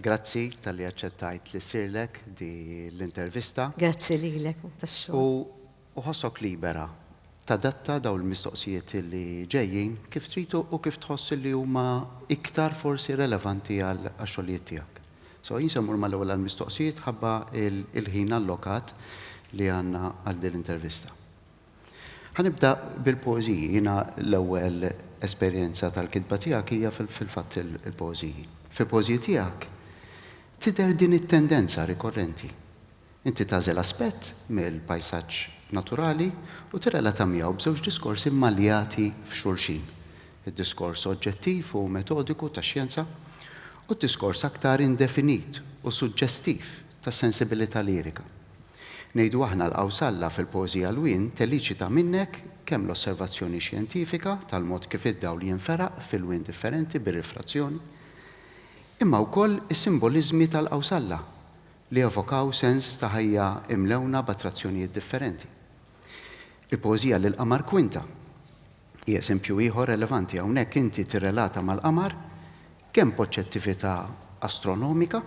Grazzi talli aċċettajt li ssirlek di l-intervista. Grazzi lilek tax-xogħol. U ħossok libera tadatta dawn il-mistoqsijiet li ġejjin kif trid u kif tħoss li huma iktar forsi relevanti għax-xogħlijiet tiegħek. So jien se mmur mal-ewwel għall-mistoqsijiet ħabba l-ħin allokat li għandna għal din l-intervista. Ħa nibda bil-poeżiji. Jiena l-ewwel esperjenza tal-kitba tiegħek hija fil-fatt il-poeżiji. Fil-poeżiji tiegħek tidher din it-tendenza rikorrenti. Inti tagħżel aspett mill-pajsaġġ naturali u tirrelata miegħu b'żewġ diskorsi mmaljati f'xulxin, id-diskors oġġettiv u metodiku tax-xjenza u d-diskors aktar indefinit u suġġestiv tas-sensibilità lirika. Ngħidu aħna l-qawsalla fil-poeżija Lwien teliċita minnek kemm l-osservazzjoni xjentifika tal-mod kif id-dawl jinferaq f'ilwien differenti bir-rifrazzjoni, imma wkoll is-simboliżmi tal-qawsalla li evokaw sens ta' ħajja imlewna b'attrazzjonijiet differenti. Il-poeżija Lill-Qamar Kwinta hi eżempju ieħor relevanti, hawnhekk inti tirrelata mal-qamar kemm b'oġġettività astronomika,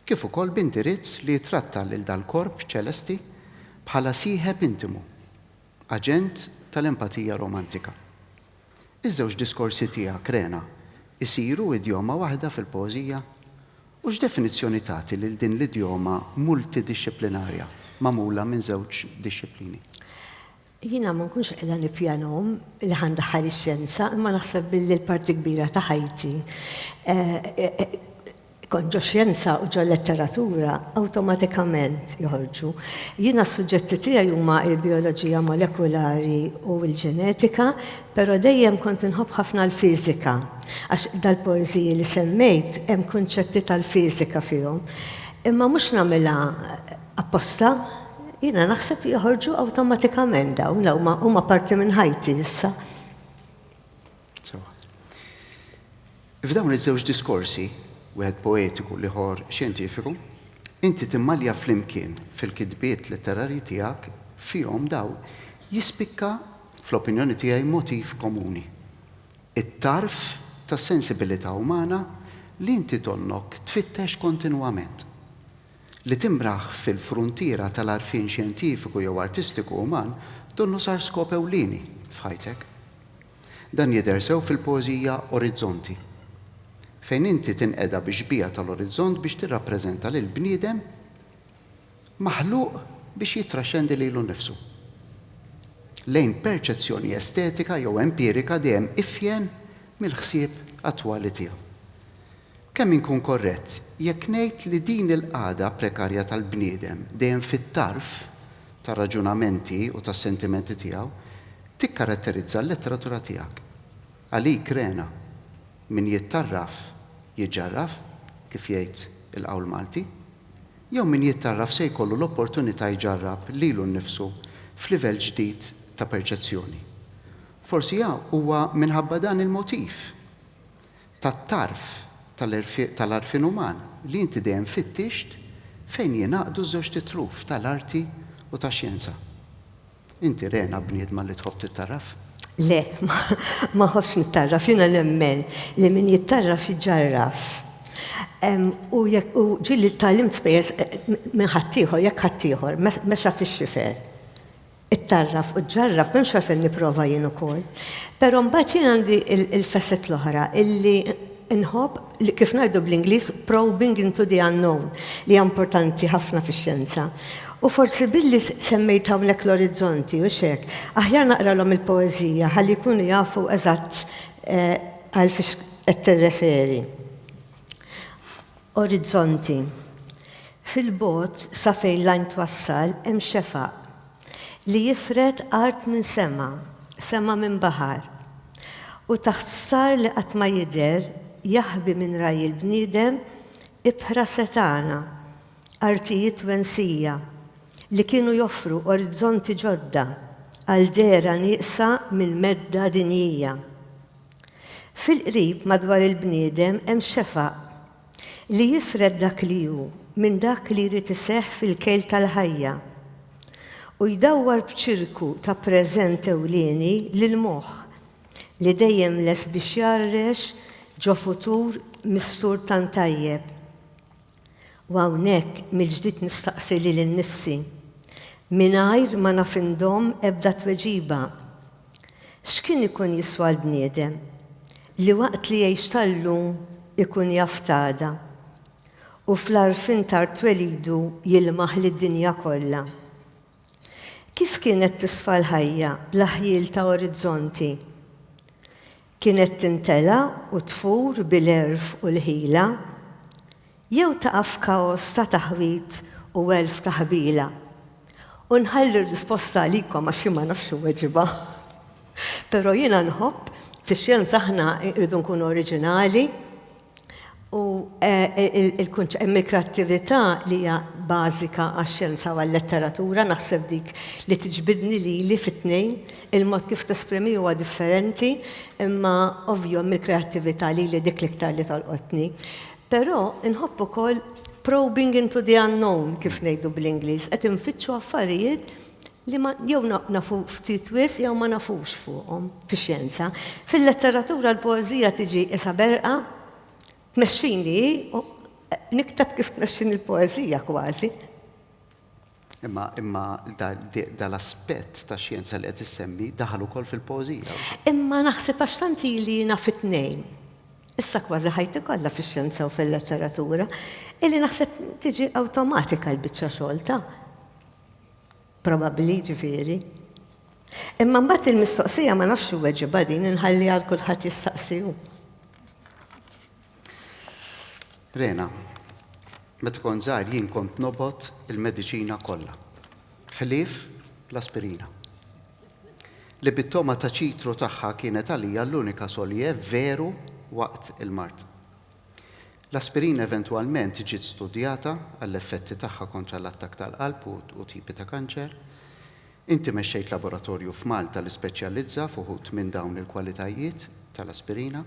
kif ukoll b'indirizz li jittratta lil dal-korp ċelesti bħala sieħeb intimu, aġent tal-empatija romantika. Iż-żewġ diskorsi tiegħek, Rena, isiru idjoma waħda fil-poeżija? U x'definizzjoni tagħti lil din l-idjoma multidixxiplinarja magħmula minn żewġ dixxiplini? Jiena ma nkunx qiegħda nippjanahom li ħa ndaħħal ix-xjenza, imma naħseb billi l-parti kbira ta' ħajti kont ġo xjenza u ġo letteratura awtomatikament joħorġu. Jiena s-suġġetti tiegħi huma l-bijoloġija molekulari u l-ġenetika, però dejjem kont inħobb ħafna l-fiżika, għax dal-poeżiji li semmejt hemm kunċetti tal-fiżika fihom. Imma mhux nagħmilha Apposta? Jiena naħseb li joħorġu awtomatikament dawn, law ma huma parti minn ħajti issa. F'dawn iż-żewġ diskorsi, wieħed poetiku li ħor xjentifiku, inti timmalja flimkien fil-kitbiet letterarji tiegħek fihom daw jispikka fl-opinjoni tiegħi motiv komuni. It-tarf tas-sensibilità umana li inti tonnok tfittex kontinwament. li timraħ fil-fruntiera tal-għarfien xjentifiku jew artistiku uman donnu sar skop ewlieni f'ħajtek. Dan jidher sew fil-poeżija Orizzonti, fejn inti tinqeda bix-xbieha tal-orizzont biex tirrappreżenta lill-bniedem maħluq biex jittraxxendi lilu nnifsu lejn perċezzjoni estetika jew empirika dejjem ifjen mill-ħsieb attwali tiegħu. Kemm inkun korrett jekk ngħid li din il-qagħda prekarja tal-bniedem, dejjem fit-tarf tar-raġunamenti u tas-sentimenti tiegħu, tikkaratterizza l-letteratura tiegħek. Għalik, Rena, min jittarraf, jiġġarraf, kif jgħid il-qawl Malti? Jew min jittarraf se jkollu l-opportunità jġarrab lilu nnifsu f'livell ġdid ta' perċezzjoni? Forsi huwa minħabba dan il-motiv tat-tarf tal-għarfien uman li inti dejjem fittixt fejn jingħaqdu ż-żewġt itruf tal-arti u tax-xjenza. Inti rena bniedma li tħobb tittarraf? Le, ma nħobbx nittarraf. Jiena nemmen li min jittarraf jġarraf. U ġieli tgħallimt spejjeż minn ħaddieħor, jekk ħaddieħor mexa fix-xifer. Ittarraf u ġġarraf, m'hemmx għalfejn nipprova jien ukoll. Però mbagħad jien għandi il-facet l-oħra illi nħobb li kif ngħidu bl-Ingliż probing into the unknown li hija importanti ħafna fix-xjenza. U forsi billi semmejt hawnhekk l-orizzonti u x'hekk, aħjar naqralhom il-poeżija ħalli jkunu jafu eżatt għal fiex qed tirreferi. Orizzonti. Fil-bogħod, sa fejn l-għajn twassal, hemm xefaq, li jifred art minn sema, sema minn baħar. U taħt star li qatt ma jidher, jaħbi minn ragħaj il-bniedem ibħra setgħana, artijiet wensija, li kienu joffru orizzonti ġodda għal dehra nieqsa mill-medda dinjija. Fil-qrib madwar il-bniedem hemm xefaq li jifred dak li hu minn dak li jrid iseħħ fil-kejl tal-ħajja u jdawwar b'ċirku ta' preżent ewlieni lill-moħħ li dejjem lest biex jgħarrex ġo futur mistur tant tajjeb. U hawnhekk mill-ġdid nistaqsi lili nnifsi, mingħajr ma naf indomm ebda tweġiba, X'kien ikun jiswa l-bniedem li waqt li jgħix ta' llum ikun jaf t'għada, u fl-għarfien ta' rtwelidu jilmaħ lid-dinja kollha? Kif kienet tisfa l-ħajja bla ħjiel ta' orizzonti? Kienet tintela' u tfur bil-għerf u l-ħila, jew taqa' f'kaos ta' taħwid u għelf ta' ħbiela? U nħalli r-risposta għalikom għax jien ma nafx inweġibha. Però jiena nħobb, fix-xjenza aħna rridu nkunu oriġinali, u hemm il-kreattività li hija bażika għax-xjenza u għal-letteratura, naħseb dik li tiġbidni lili fit-tnejn, il-mod kif tesprimi huwa differenti, imma ovvju hemm il-kreattività lili dik l-iktar li tolqotni. Però nħobb ukoll probing into the unknown kif ngħidu bl-Ingliż, qed infittxu affarijiet li ma jew nafu ftit wisq jew ma nafux fuqhom fix-xjenza. Fil-letteratura l-poeżija tiġi qisha berqa tmexxini hi u nikteb kif tmexxini l-poeżija kważi. Imma imma dal-aspett ta' xjenza li qed issemmi daħal ukoll fil-poeżija. Imma naħseb għax tant ili naf it-tnejn. Issa kważi ħajti kollha fix-xjenza u fil-letteratura, illi naħseb tiġi awtomatika l-biċċa xogħol ta'. Probabbli, jiġifieri. Imma mbagħad il-mistoqsija ma nafx iweġibha din inħalliha għal kulħadd jistaqsi hu. Rena, meta kont żgħir jien kont nobgħod il-mediċina kollha. Ħlief l-aspirina. Li bit-togħma ta' ċitru tagħha kienet għalija l-unika solje veru waqt il-mard. L-aspirina eventwalment ġiet studjata għall-effetti tagħha kontra l-attakk tal-qalb u tipi ta' kanċer. Inti mexxejt laboratorju f'Malta li speċjalizza f'uħud minn dawn il-kwalitajiet tal-aspirina.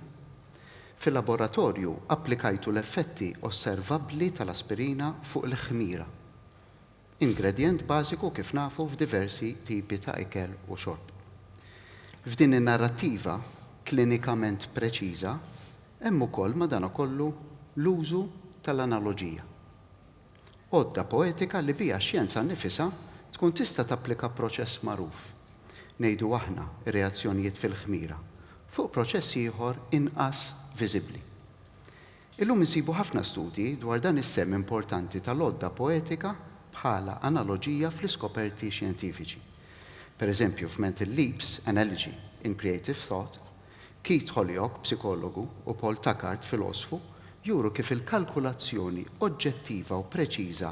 Fil-laboratorju applikajtu l-effetti osservabbli tal-aspirina fuq il-ħmira. ingredjent bażiku kif nafu f'diversi tipi ta' ikel u xorb. F'din in-narrattiva klinikament preċiża hemm ukoll madankollu l-użu tal-analoġija. Għodda poetika li biha x-xjenza nnifisha tkun tista' tapplika proċess magħruf, ngħidu aħna reazzjonijiet fil-ħmira, fuq proċess ieħor inqas viżibbli. Illum insibu ħafna studji dwar dan is-sehem importanti tal-għodda poetika bħala analoġija fl-iskoperti xjentifiċi. Pereżempju, f'Mental Leaps, Analogy in Creative Thought, Keith Holyoak, psikologu, u Paul Tackart, filosfu, juru kif il-kalkulazzjoni oġġettiva u preċiża,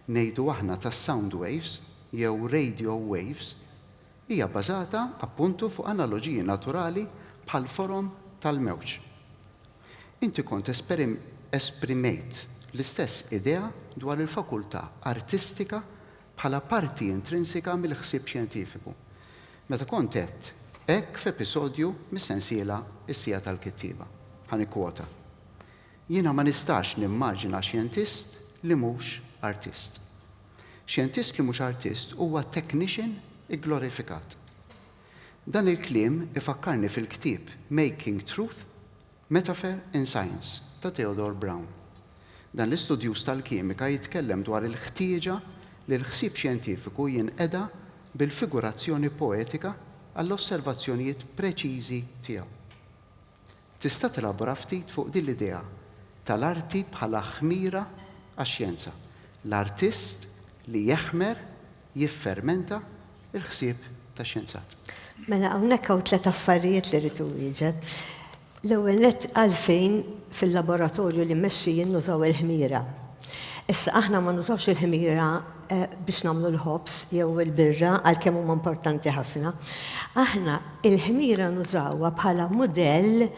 ngħidu aħna, ta' sound waves, jew radio waves, Hija bbażata, appuntu, fuq analoġiji naturali bħall-forom tal-mewġ. Inti kont esprimejt l-istess idea dwar il-fakultà artistika bħala parti intrinsika mill-ħsieb xjentifiku, meta kont għedt hekk f'episodju mis-sensiela Is-Siegħa tal-Kittieba. Ħa nikkwota, Jiena ma nistax nimmaġina xjentist li mhux artist. Xjentist li mhux artist huwa technician igglorifikat. Dan il-kliem ifakkarni fil-ktieb Making Truth, Metaphor in Science ta' Theodore Brown. Dan l-istudjuż tal-kimika jitkellem dwar il-ħtieġa li l-ħsieb xjentifiku jinqeda bil-figurazzjoni poetika għall-osservazzjonijiet preċiżi tiegħu. Tista' tilabora ftit fuq din l-idea tal-arti bħala ħmira għax-xjenza, l-artist li jeħmer, jiffermenta, il-ħsieb tax-xjenzat? Mela hawnhekk hawn tliet affarijiet li rrid inwieġeb. L-ewwel nett għalfejn fil-laboratorju li mmexxi jien nużaw il-ħmira. Issa aħna ma nużawx il-ħmira biex nagħmlu l-ħobż jew il-birra għalkemm huma importanti ħafna. Aħna il-ħmira nużawha bħala mudell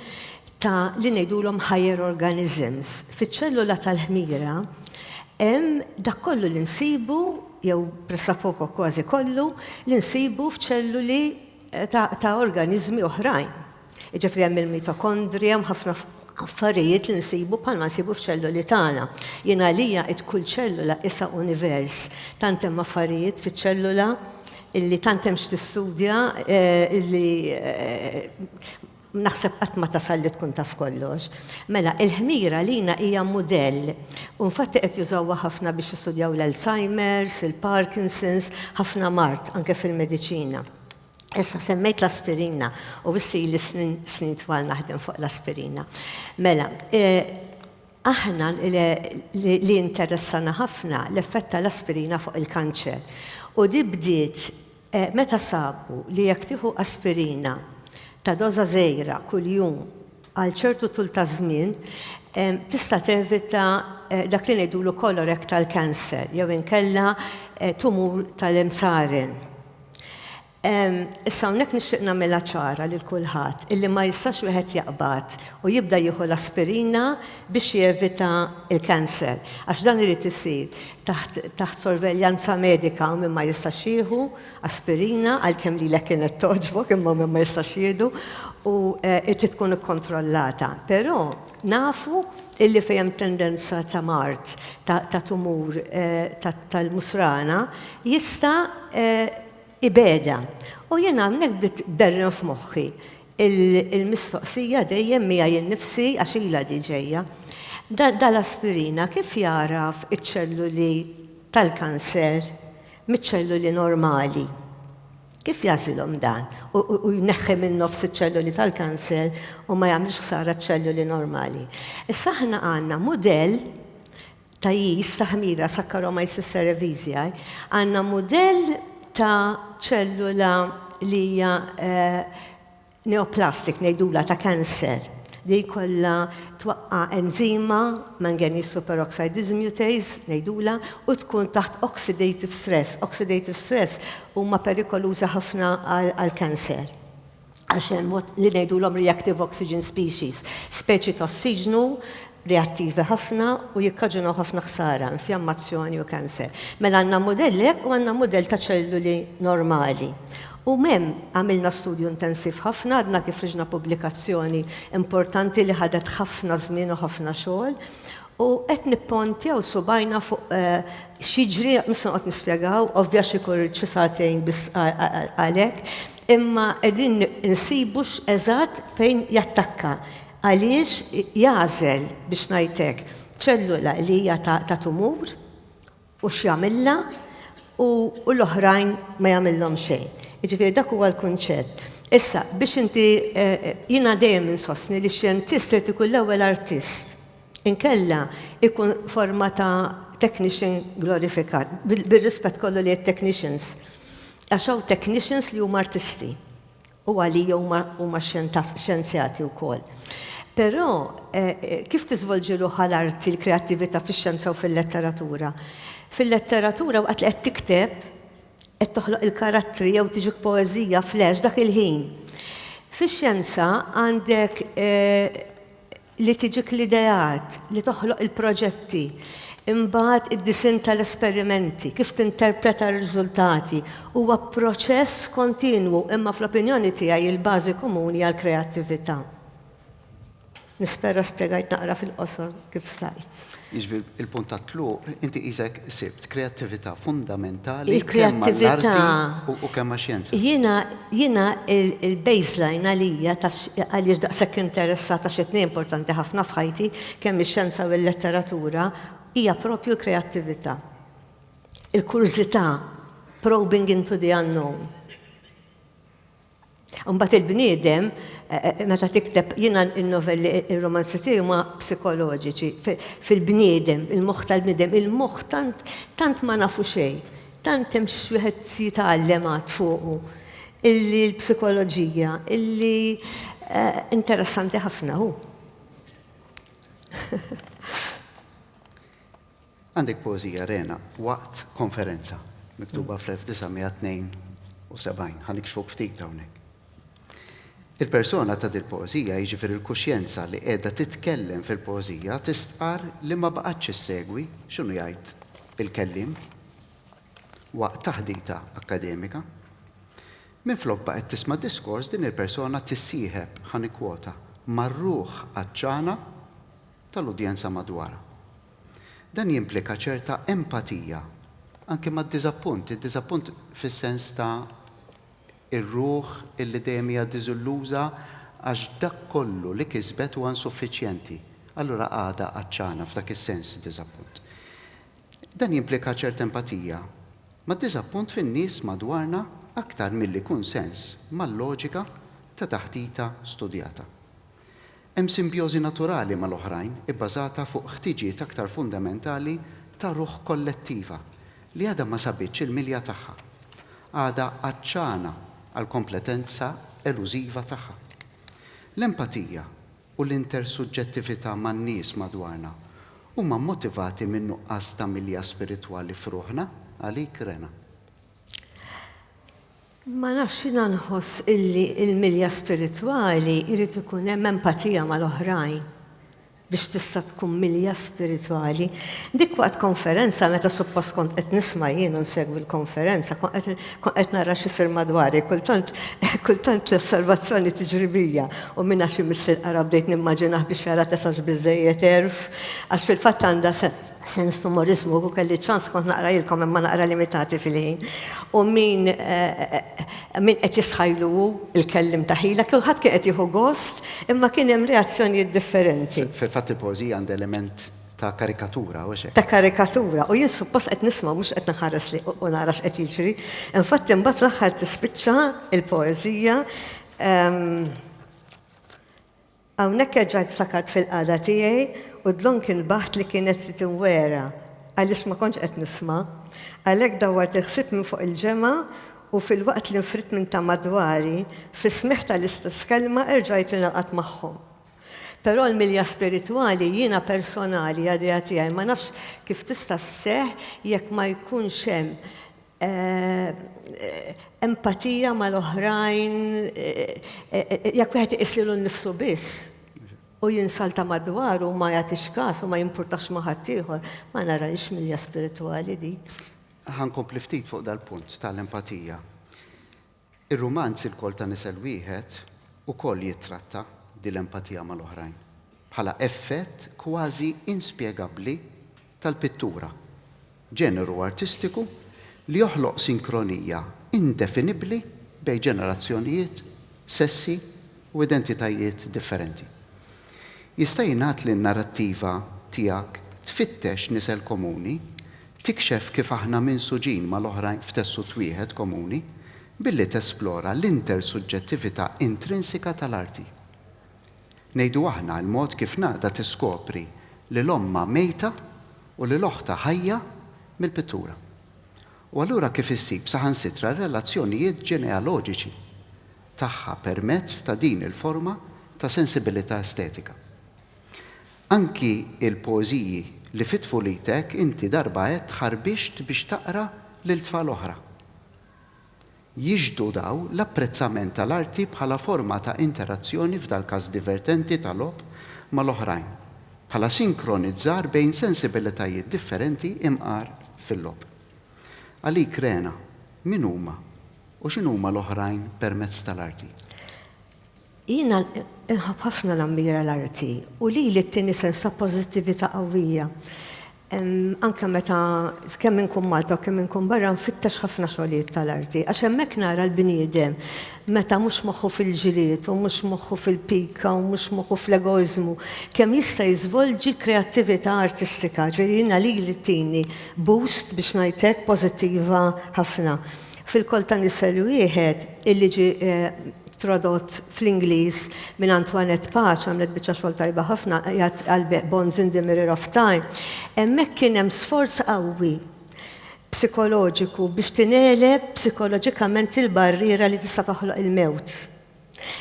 ta' li ngħidulhom higher organisms. Fiċ-ċellula tal-ħmira hemm dak kollu li nsibu jew pressapoko kważi kollu li nsibu f'ċelluli ta' organiżmi oħrajn. Jiġifieri hemm il-mitokondrija, hemm ħafna affarijiet li nsibu bħalma nsibu f'ċelluli tagħna. Jien għalija qed kull ċellula isha univers. Tant hemm affarijiet fiċ-ċellula illi tant hemm x'tistudja eh, illi eh, naħseb qatt ma tasal li tkun taf kollox. Mela, il-ħmira lina hija mudell. U nfatti qed jużawha ħafna biex jistudjaw l-Alzheimer's, il-Parkinson's, ħafna mart anke fil-mediċina. Issa semmejt l-aspirina u issi li snin snin twal naħdem fuq l-aspirina. Mela, eh, aħna li interessana ħafna l-effett tal-aspirina fuq il-kanċer. U di bdiet eh, meta sabu li jekk tieħu aspirina ta' doża żejra kuljum għal ċertu tul ta' żmien eh, tista' tevita dak li ngħidulu kolorektal cancer jew inkella tumur tal-imsaren Issa hawnhekk nixtieq nagħmilha ċara lil kulħadd illi ma jistax wieħed jaqbad u jibda jieħu l-aspirina biex jevita l-cancer, għax dan irid isir taħt sorveljanza medika u min ma jistax jieħu aspirina għalkemm lilek kienet togħġbok imma min ma jistax jieħdu u eh, irid tkun ikkontrollata. Però nafu illi fejn hemm tendenza ta' mard ta' tumur tal-musrana jista' ibegħedha. U jiena hawnhekk bdiet tberren f'moħħi l-mistoqsija dejjem miegħi innifsi għax ilha di ġejja. Dal-aspirina kif jagħraf iċ-ċelluli tal-kanser miċ-ċelluli normali? Kif jagħżilhom dan u jneħħi minn nofs iċ-ċelloli tal-kanser u ma jagħmilx ħsara ċ-ċelloli normali? Issa aħna għandna mudell ta' jis ta' ħmira Saccharomyces cerevisiae, għandna mudell ta' ċellula li hija Neoplastic ngħidulha ta' cancer li jkollha twaqqa' enzima, manganese superoxide dismutase ngħidulha, u tkun taħt oxidative stress. Oxidative stress huma perikolużi ħafna għall-cancer għax hemm li ngħidulhom reactive oxygen species, speċi ta' ossiġnu reattivi ħafna u jikkaġunaw ħafna ħsara, infjammazzjoni u kanser. Mela għandna mudelli hekk u għandna mudell ta' ċelluli normali. U m'hemm għamilna studju intensiv ħafna, għadna kif ħriġna pubblikazzjoni importanti li ħadet ħafna żmien u ħafna xogħol, u qed nippontjaw subgħajna fuq x'jiġri, mhux se noqgħod nispjegaw, ovvja xi jkun rrid xi sagħtejn biss għal hekk, imma qegħdin insibu x'eżatt fejn jattakka. Għaliex jagħżel, biex ngħid hekk, ċellula li hija ta' tumur u x'jagħmilha u l-oħrajn ma jagħmilhom xejn? Jiġifieri dak huwa l-kunċett. Issa, biex inti jiena dejjem insostni li x-xjentist irid ikun l-ewwel artist. Inkella jkun forma ta' technician glorifikat, bir-rispett kollu lejn it-technicians. Għax hawn technicians li huma artisti. u għalija huma huma xjentas xjenzjati wkoll. Però kif tiżvolġi ruħha l-arti, l-kreattività fix-xjenza u fil-letteratura? Fil-letteratura waqt li qed tikteb, qed toħloq il-karattri jew tiġik poeżija flash dak il-ħin. Fix-xjenza għandek li tiġik l-ideat, li toħloq il-proġetti, imbagħad id-disinn tal-esperimenti, kif tinterpreta r-riżultati, huwa proċess kontinwu imma fl-opinjoni tiegħi il-bażi komuni għall-kreattività. Nispera spjegajt naqra fil-qosor kif stajt. Jiġifieri il-punt tat-tluq inti qisek sibt kreattività fundamentali kemm għall-arti u kemm għax-xjenza. Jiena il-baseline għalija għaliex daqshekk interessat għax it-tnejn importanti ħafna f'ħajti, kemm ix-xjenza u l-letteratura, hija proprju l-kreattività. Il-kurżità, probing into the unknown. Imbagħad il-bniedem meta tikteb jiena n-novelli ir-romanzi tiegħi huma psikoloġiċi fil-bniedem, il-moħħ tal-bniedem, il-moħħ tant tant ma nafu xejn, tant hemm x'wieħed jitgħallem għad fuqu illi l-psikoloġija illi interessanti ħafna hu. Għandek poeżija rena waqt konferenza miktuba fl-1972. Ħa nikxfuk ftit hawnhekk. Il-persona ta' dil-poeżija, jiġifieri l-kuxjenza li qiegħda titkellem fil-poeżija tistqarr li ma baqgħetx issegwi x'inhu jgħid il-kelliem waqt taħdita akkademika. Minflok baqgħet tisma' diskors, din il-persona tissieħeb, ħa nikkwota, mar-ruħ għatxana tal-udjenza madwarha. Dan jimplika ċerta empatija anki mad-diżappunt, id-diżappunt fis-sens ta' ir-ruħ illi dejjem hija diżilluża għax dak kollu li kisbet huwa insuffiċjenti. Allura għadha għatxana f'dak is-sens id-diżappunt. Dan jimplika ċerta empatija mad-diżappunt fin-nies madwarna aktar milli kunsens mal-loġika ta' taħdita studjata. Hemm simbjożi naturali mal-oħrajn ibbażata fuq ħtiġiet aktar fundamentali ta' ruħ kollettiva li għadha ma sabitx il-milja tagħha. Għadha għatxana għall-kompletenza elużiva tagħha. L-empatija u l-intersuġġettività man-nies madwarna huma mmotivati minn nuqqas ta' milja spiritwali f'ruħna, għalik, Rena? Ma nafx, jiena nħoss illi l-milja spiritwali jrid ikun hemm empatija mal-oħrajn biex tista' tkun milja spiritwali. Dik waqt konferenza meta suppost kont qed nisma' jien u nsegwi l-konferenza, kont qed kont qed nara x'isir madwari, kultant kultant l-osservazzjoni tiġri bija u minn għax imiss il-qara bdejt nimmaġinah biex jara tesax biżżejjed għerf għax fil-fatt għandha Sens t'umorizmu, u kelli ċans kont naqrajilkom imma naqra limitati fil-ħin. U min min qed jisħajlu hu il-kellim ta' ħila, kulħadd kien qed jieħu gost, imma kien hemm reazzjonijiet differenti. Fil-fatt il-poeżija għandha element ta' karikatura, u x'hekk? Ta' karikatura, u jien suppost qed nisma' mhux qed nħares li u nara x'qed jiġri. Infatti mbagħad fl-aħħar tispiċċa il-poeżija Hawnhekk erġajt ftakart fil-qagħda tiegħi u d-dlonk inbaħt li kienet se tinwera għaliex ma kontx qed nisma'. Għalhekk dawwart il-ħsieb minn fuq il-ġemgħa u filwaqt li nfridt minn ta' madwari, fis-smigħ tal-istess kelma erġajt ingħaqadt magħhom. Però l-milja spiritwali jiena personali għadejha tiegħi ma nafx kif tista' sseħħ jekk ma jkunx hemm empatija mal-oħrajn, jekk wieħed iqis lilu nnifsu biss u jinsalta madwaru u ma jagħtix kas u ma jimpurtax ma' ħaddieħor, ma narahiex milja spiritwali dik. Ħa nkompli ftit fuq dal-punt tal-empatija. Ir-rumanz Ilkoll ta' Nisel Wieħed ukoll jittratta din l-empatija mal-oħrajn, bħala effett kważi inspjegabbli tal-pittura, ġeneru artistiku li joħloq sinkronija indefinibbli bejn ġenerazzjonijiet, sessi, u identitajiet differenti. Jista' jingħad li n-narrattiva tiegħek tfittex nisel komuni, tikxef kif aħna minsuġin mal-oħrajn f'tessut wieħed komuni, billi tesplora l-intersuġġettività intrinsika tal-arti. Ngħidu aħna, il-mod kif nagħda tiskopri lil ommha mejta u lil oħtha ħajja mill-pittura. U allura kif issib saħansitra r-relazzjonijiet ġenealoġiċi. tagħha permezz ta' din il-forma ta' sensibilità estetika. Anki il-poeżiji li fi tfulitek inti darba għedt ħarbixt biex taqra lil tfal oħra. Jixhdu daw l-apprezzament tal-arti bħala forma ta' interazzjoni f'dal-każ divertenti ta' logħob mal-oħrajn, bħala sinkronizzar bejn sensibilitajiet differenti imqar fil-logħob. Għalik Rena, min huma U x'inhuma l-oħrajn permezz tal-arti? Jiena nħabb ħafna nammira l-arti u lili ttini sens ta' pożittività qawwija. Anke meta kemm inkun Malta u kemm inkun barra nfittex ħafna xogħlijiet tal-arti għax hemmhekk nara l-bniedem meta mhux moħħu fil-ġlied u mhux moħħu fil-pika u mhux moħħu fl-egoiżmu kemm jista' jiżvolġi kreattività artistika. Ġifieri jiena lili ttini boost biex ngħid hekk pożittiva ħafna. Fil-koll ta' nisel wieħed, illi ġie tradott fl-Ingliż minn Antoinette Pace, għamlet biċċa xogħol tajba ħafna, qiegħed għall-bejgħ Bonds in the Mirror of Time, hemmhekk kien hemm sforz qawwi psikoloġiku biex tingħeleb psikoloġikament il-barriera li tista' toħloq il-mewt.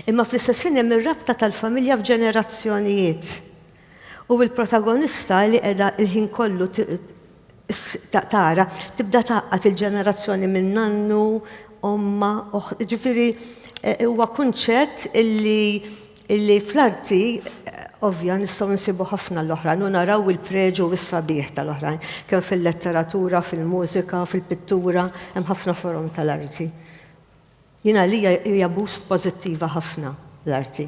Imma fl-istess ħin hemm ir-rabta tal-familja f'ġenerazzjonijiet. U l-protagonista li qiegħda l-ħin kollu tara, tibda tgħaqqad il-ġenerazzjoni minn nannu, ommha, ġifieri huwa kunċett illi illi fl-arti ovvja nistgħu nsibu ħafna l-oħrajn u naraw il-preġu u s-sabiħ tal-oħrajn, kemm fil-letteratura, fil-mużika, fil-pittura, hemm ħafna forom tal-arti. Jien għalija hija boost pożittiva ħafna l-arti.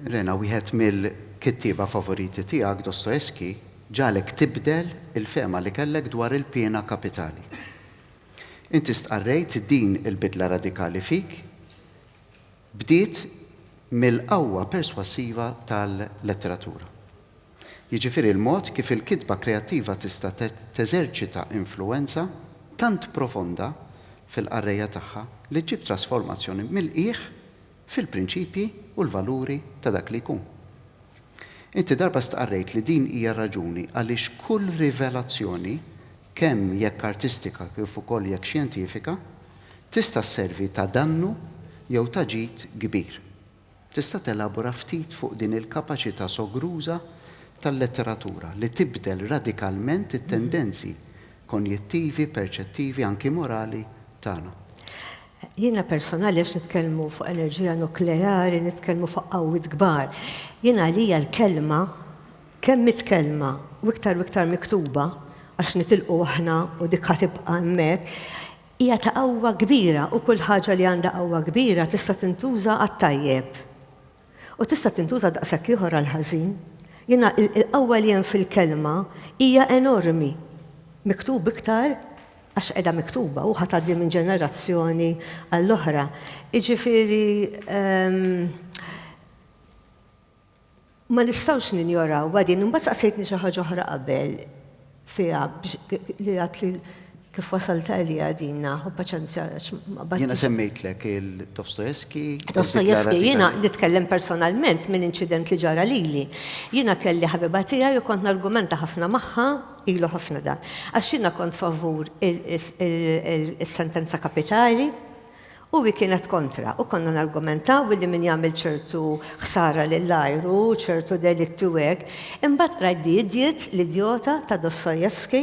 Rena, wieħed mill-kittieba favoriti tiegħek, Dostoevsky, ġagħlek tibdel il-fehma li kellek dwar il-piena kapitali. Inti stqarrejt din il-bidla radikali fik Bdiet mill-qawwa perswassiva tal-letteratura. Jiġifieri l-mod kif il-kitba kreattiva tista' teżerċita influwenza tant profonda fil-qarrejja tagħha li ġġib trasformazzjoni mill-qiegħ fil-prinċipji u l-valuri ta' dak li jkun. Inti darba stqarrejt li din hija r-raġuni għaliex kull rivelazzjoni, kemm jekk artistika kif ukoll jekk xjentifika, Tista' sservi ta' dannu jew ta' ġid kbir. Tista' telabora ftit fuq din il-kapaċità sogruża tal-letteratura li tibdel radikalment it-tendenzi konjittivi, perċettivi, anki morali, tagħna? Jiena personali għax nitkellmu fuq enerġija nukleari, nitkellmu fuq qawwiet kbar. Jien għalija l-kelma, kemm mitkellma u iktar u iktar miktuba, għax nitilqu aħna u dik ħa tibqa' hemmhekk, Hija ta' qawwa kbira u kull ħaġa li għandha qawwa kbira tista' tintuża għat-tajjeb. U tista' tintuża daqshekk ieħor għall-ħażin. Jiena l-qawwa li hemm fil-Kelma hija enormi. Miktub iktar għax qiegħda miktuba u ħa tgħaddi minn ġenerazzjoni għall-oħra. Jiġifieri, Ma nistgħux ninjorawha din. Imbagħad saqsejtni xi ħaġa oħra qabel fiha li għadt li kif wasalt għaliha din naħu paċenzja għax ma bad. Jiena semmejtlek il-Dostoevsky. Dostoevsky, jiena nitkellem personalment minn inċident li ġara lili. Jiena kelli ħabiba tiegħi u kont nargumenta ħafna magħha ilu ħafna dan. Għax jiena kont favur is-sentenza kapitali u hi kienet kontra u konna nargumentaw billi min jagħmel ċertu ħsara lill-ajru, ċertu delitti u hekk, imbagħad qrajt The Idiot, L-Idjota, ta' Dostoevsky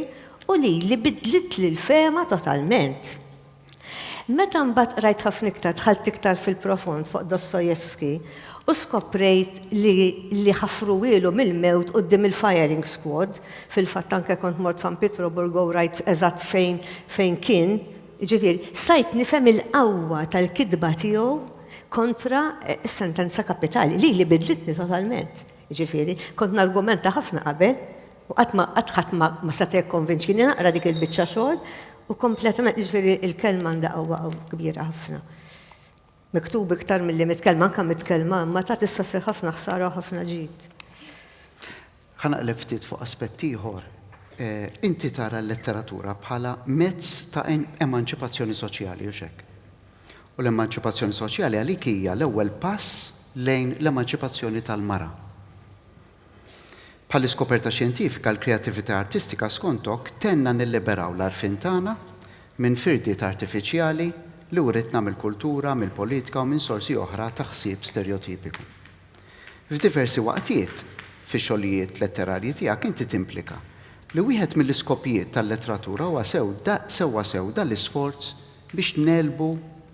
u lili bidlitli l-fehma totalment. Meta mbagħad qrajt ħafna iktar dħalt iktar fil-profond fuq Dostoevsky u skoprejt li li ħafruhielu mill-mewt quddiem il-firing squad, fil-fatt anke kont mort San Pietruburgo u rajt eżatt fejn fejn kien Jiġifieri, stajt nifhem il-qawwa tal-kitba tiegħu kontra s-sentenza kapitali, li li bidlitni totalment. Jiġifieri, kont nargumenta ħafna qabel u qatt ma qatt ħadd ma ma seta' jikkonvinċini naqra dik il-biċċa xogħol u kompletament jiġifieri l-kelma għandha qawwa kbira ħafna. Miktub iktar milli mitkellma, anke mitkellma, imma ta' tista' ssir ħafna ħsara u ħafna ġid. Ħa naqleb ftit fuq aspett ieħor. Inti tara l-letteratura bħala mezz ta' emanċipazzjoni soċjali, hux hekk? U l-emanċipazzjoni soċjali għalik hija l-ewwel pass lejn l-emanċipazzjoni tal-mara. Bħall-iskoperta xjentifika, l-kreattività artistika, skontok, tgħinna nilliberaw l-għarfien tagħna minn firdiet artifiċjali li writna mill-kultura, mill-politika u minn sorsi oħra ta' ħsieb sterjotipiku. F'diversi waqtiet fix-xogħlijiet letterarji tiegħek inti timplika li wieħed mill-iskopijiet tal-letteratura huwa sew da sewwa sew da l-isforz biex negħlbu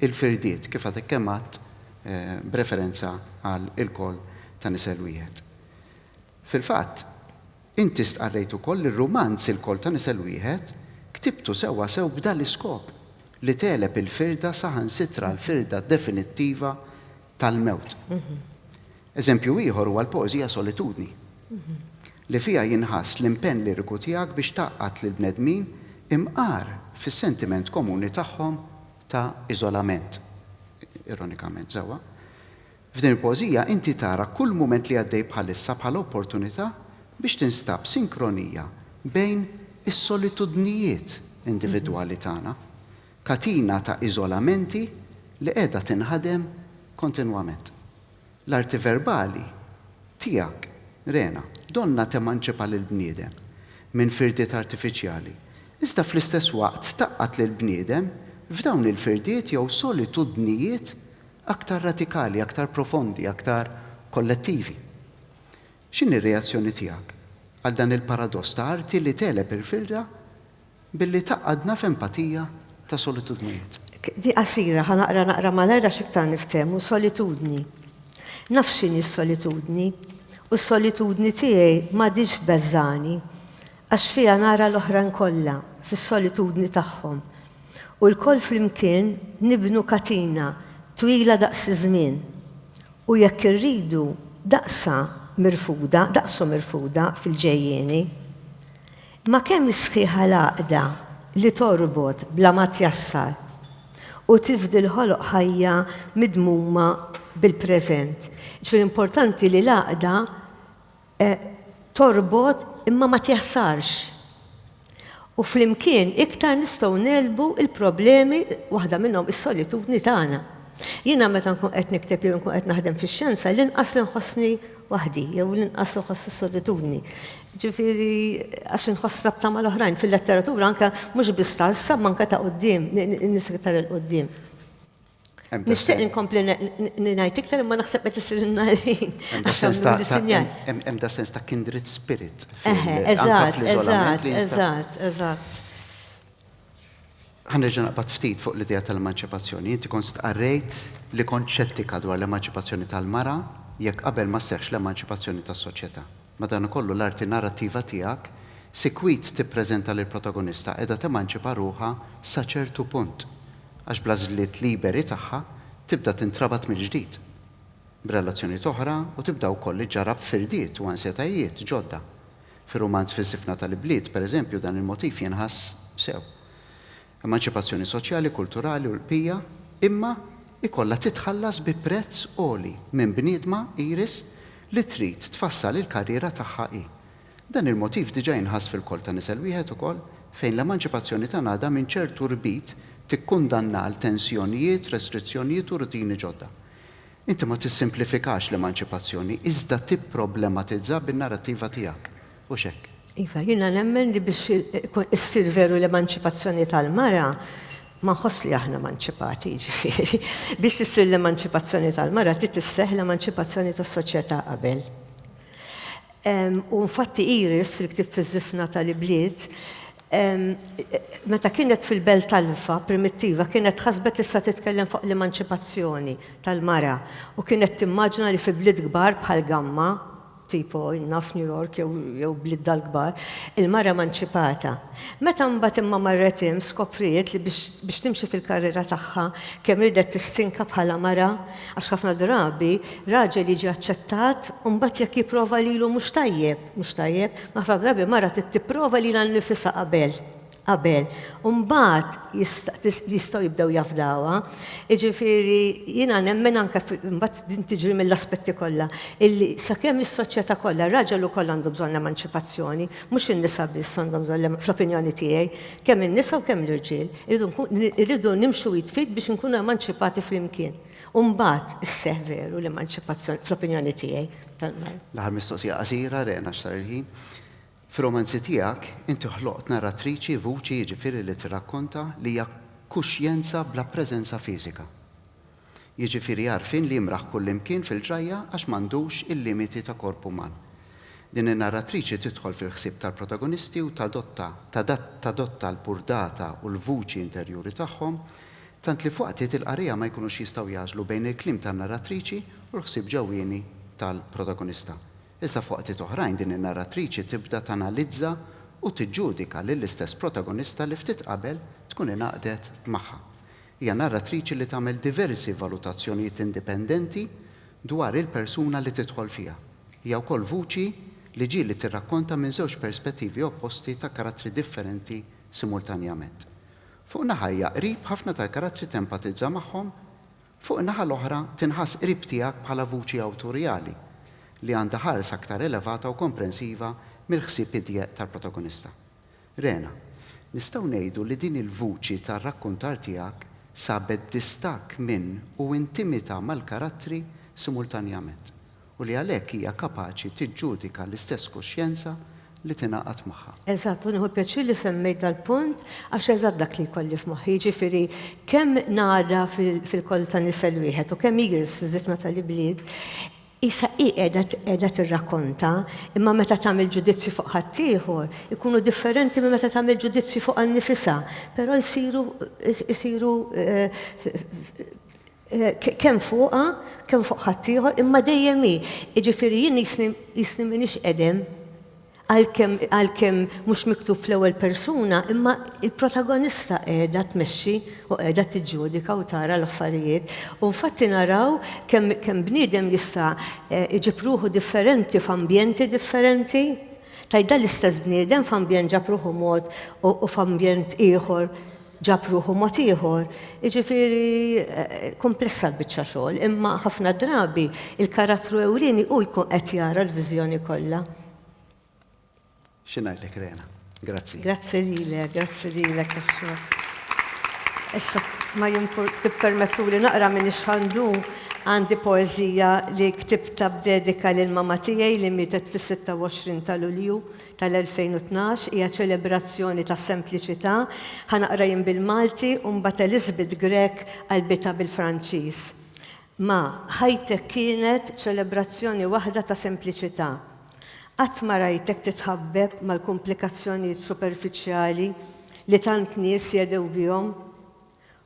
l-firdiet, kif għadek kemm għedt, b'referenza għal ilkoll ta' nisel wieħed. Fil-fatt, inti stqarrejt ukoll li r-rumanz Ilkoll ta' nisel wieħed ktibtu sewwasew b'dan l-iskop, li tegħleb il-firda saħansitra l-firda definittiva tal-mewt. Eżempju ieħor huwa l-poeżija Solitudni, li fiha jinħass l-impenn liriku tiegħek biex tgħaqqad lill-bnedmin imqar fis-sentiment komuni tagħhom ta' iżolament, ironikament sewwa, f'din il-poeżija inti tara kull mument li għaddej bħalissa bħala opportunità biex tinstab sinkronija bejn is-solitudnijiet individwali tagħna, katina ta' iżolamenti li qiegħda tinħadem kontinwament. L-arti verbali tiegħek, rena, donnha temanċipa lill-bniedem minn firdiet artifiċjali, iżda fl-istess waqt tgħaqqad lill-bniedem f'dawn il-firdiet jew solitudnijiet aktar radikali, aktar profondi, aktar kollettivi. X'inhi r-reazzjoni tiegħek għal dan il-paradoss ta' arti li tegħleb il-firda Billi tgħaqqadna f'empatija ta' solitudnijiet. Di qasira, ħa naqra naqra malajr għax iktar niftehmu, solitudni. Naf x'inhi s-solitudni, u s-solitudni tiegħi m'għadhiex tbeżżagħni, għax fiha nara l-oħrajn kollha fis-solitudni tagħhom, u lkoll flimkien nibnu katina twila daqs iż-żmien, u jekk irridu, daqsha mirfuda, daqsu mirfuda fil-ġejjieni. Ma' kemm hi sħiħa l-għaqda li torbot bla ma tjassar u tifdi l-ħoloq ħajja midmuma bil-preżent. Jiġifieri importanti li l-għaqda torbot imma ma tjassarx. U flimkien iktar nistgħu ngħelbu l-problemi, waħda minnhom is-solitudni tagħna. Jiena meta nkun qed nikteb jew inkun qed naħdem fix-xjenza, l-inqas li nħossni waħdi jew l-inqas li nħoss is-solitudni. jiġifieri għax inħoss rabta mal-oħrajn fil-letteratura anke mhux biss ta' issa imma anke ta' quddiem, in-nies iktar 'il quddiem. Nixtieq inkompli ngħid iktar imma naħseb qed isirilna l-ħin. Hemm da' sens ta' kindred spirit fl-iżolament. Eżatt, eżatt. Ħa nerġa' naqbad ftit fuq l-idea tal-emanċipazzjoni. Inti kont stqarrejt li kont xettika dwar l-emanċipazzjoni tal-mara jekk qabel ma sseħħx l-emanċipazzjoni tas-soċjetà. Madankollu, l-arti narrattiva tiegħek sikwit tippreżenta lill-protagonista qiegħda temanċipa ruħha sa ċertu punt, għax bl-għażliet liberi tagħha tibda tintrabat mill-ġdid b'relazzjonijiet oħra u tibda wkoll iġġarrab firdiet u ansjetajiet ġodda. Fir-rumanz Fis-Sifna tal-Ibliet, pereżempju, dan il-motiv jinħass sew. emanċipazzjoni soċjali, kulturali u l-bqija, imma jkollha titħallas bi prezz għoli minn bniedma, Iris, li trid tfassal il-karriera tagħha hi. Dan il-motiv diġà jinħass fil-Koll ta' Nisel Wieħed ukoll, fejn l-emanċipazzjoni ta' Nada minn ċertu rbit tikkundanna għal tensjonijiet, restrizzjonijiet u rutini ġodda. Inti ma tissimplifikax l-emanċipazzjoni, iżda tipproblematizza bin-narrattiva tiegħek. Mhux hekk? Iva, jiena nemmen li biex issir veru l-emanċipazzjoni tal-mara, ma nħoss li aħna emanċipati, jiġifieri, biex issir l-emanċipazzjoni tal-mara trid isseħħ l-emanċipazzjoni tas-soċjetà qabel. U infatti Iris fil-ktieb Fiż-Żifna tal-Ibliet, meta kienet fil-belt Alfa primittiva kienet ħasbet li se titkellem fuq l-emanċipazzjoni tal-mara u kienet timmaġina li fi bliet kbar bħal Gamma, tipo, naf New York jew jew bliedna l-kbar, il-mara emanċipata. Meta mbagħad imma marret hemm skopriet li biex biex timxi fil-karriera tagħha kemm riedet tistinka bħala mara għax ħafna drabi raġel jiġi aċċettat u mbagħad jekk jipprova lilu mhux tajjeb mhux tajjeb, ħafna drabi mara trid tipprova lilha nnifisha qabel qabel, u mbagħad jistgħu jibdew jafdawha. Jiġifieri jiena nemmen anke mbagħad din tiġri mill-aspetti kollha, illi sakemm is-soċjetà kollha, ir-raġel ukoll għandu bżonn l-emanċipazzjoni, mhux in-nisa biss għandhom bżonn fl-opinjoni tiegħi, kemm in-nisa u kemm l-irġiel. Irridu nimxu id f'id biex inkunu emanċipati flimkien. U mbagħad isseħħ veru l-emanċipazzjoni, fl-opinjoni tiegħi. L-aħħar mistoqsija qasira, Rena, għax sar il-ħin. Fir-romanzi tiegħek, inti ħloqt narratriċi, vuċi jiġifieri li tirrakkonta, li hija kuxjenza bla preżenza fiżika. Jiġifieri għarfien li jimraħ kullimkien fil-ġrajja għax m'għandux il-limiti ta' korp uman. Din in-narratriċi tidħol fil-ħsieb tal-protagonisti u tadotta, tadatta l-burdata u l-vuċi interjuri tagħhom, tant li f'waqtiet il-qarriegħa ma jkunux jistgħu jagħżlu bejn il-kliem tan-narratriċi u l-ħsieb ġewwieni tal-protagonista. Iżda f'waqtiet oħrajn din in-narratriċi tibda tanalizza u tiġġudika lill-istess protagonista li ftit qabel tkun ingħaqdet magħha. Hija narratriċi li tagħmel diversi valutazzjonijiet indipendenti dwar il-persuna li tidħol fiha. Hija wkoll vuċi li ġieli tirrakkonta minn żewġ perspettivi opposti ta' karattri differenti simultanjament. Fuq naħa hija qrib ħafna tal-karattri tempatizza magħhom Fuq in-naħa l-oħra, tinħass qrib tiegħek bħala vuċi awtorjali, li għandha ħarsa aktar elevata u komprensiva mill-ħsieb idjeq tal-protagonista. Rena, Nistgħu ngħidu li din il-vuċi tar-rakkuntar tiegħek sabet distakk minn u intimità mal-karattri simultanjament. u li għalhekk hija kapaċi tiġġudika l-istess kuxjenza li tingħaqad magħha. Eżatt, u nieħu pjaċir li semmejt dal-punt għax eżatt dak li jkolli f'moħħi, jiġifieri kemm ngħada fil-kollu ta' nisel wieħed u kemm igress fiż-żifna tal-ibliet, qisha hi qiegħda tirrakkonta, imma meta tagħmel ġudizzji fuq ħaddieħor, ikunu differenti minn meta tagħmel ġudizzji fuqha nnifisha, però jsiru kemm fuqha, kemm fuq ħaddieħor, imma dejjem hi. Jiġifieri jien qisni qisni m'iniex qedem, għalkemm għalkemm mhux miktub fl-ewwel persuna, imma l-protagonista qiegħda tmexxi u qiegħda tiġġudika u tara l-affarijiet. U infatti naraw kemm kemm bniedem jista' iġib ruħu differenti f'ambjenti differenti. Tgħidha l-istess bniedem f'ambjent ġab ruħu mod u f'ambjent ieħor ġab ruħu mod ieħor, jiġifieri kumplessa l-biċċa xogħol, imma ħafna drabi l-karattru ewlieni hu jkun qed jara l-viżjoni kollha. Xi ngħidlek Rena. Grazzi. Grazzi lilek, grazzi lilek għax-xogħol. Issa ma jimpur tippermettuli naqra minn ix-xandu għandi poeżija li ktibta b'dedika lil mamma tiegħi li mietet fis-26 ta' Lulju tal-2012 hija ċelebrazzjoni ta' sempliċità, ħa naqra jien bil-Malti u mbagħad Elizabeth Grech qalbitha bil-Franċiż. Ma, ħajtek kienet ċelebrazzjoni waħda ta' sempliċità. Qatt ma rajtek titħabbeb mal-kumplikazzjonijiet superfiċjali li tant nies jedew bihom.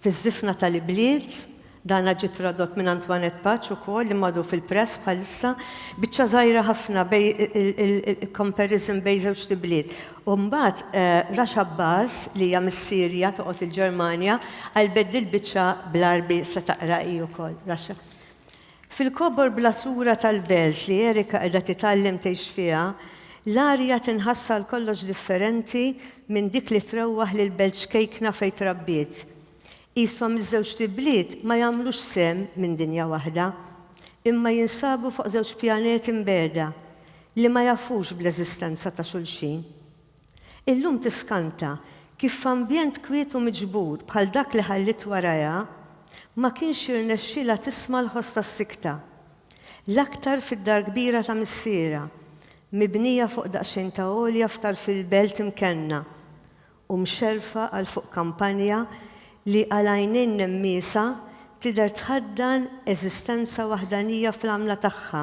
Fiż-żifna tal-ibliet, dana ġie tradott minn Antoinette Paċ ukoll, imma għadu fil-press bħalissa, biċċa żgħira ħafna bej il-comparison bejn żewġt ibliet. U mbagħad Rasha Baz, li hija mis-Sirja toqgħod il-Ġermanja, qalbet dil-biċċa bl-Għarbi se taqra hi wkoll, Rasha. Fil-kobor bla sura tal-belt li Erika qiegħda titgħallem tgħix fiha, l-arja tinħass għal kollox differenti minn dik li trewwaħ lill-belt ċkejkna fejn trabbiet. Qishom iż-żewġt ibliet ma jagħmlux sehem minn dinja waħda, imma jinsabu fuq żewġ pjaneti mbegħda li ma jafux bl-eżistenza ta' xulxin. Illum tiskanta kif f'ambjent kwiet u miġbur bħal dak li ħalliet warajha, ma kienx jirnexxilha tisma' l-ħoss tas-sikta. L-aktar fid-dar kbira ta' missierha, mibnija fuq daqsxejn ta' għolja f'tarf il-belt imkenna, u mxerrfa għal fuq kampanja li għal għajnejn nemmiesa tidher tħaddan eżistenza waħdanija fl-għamla tagħha,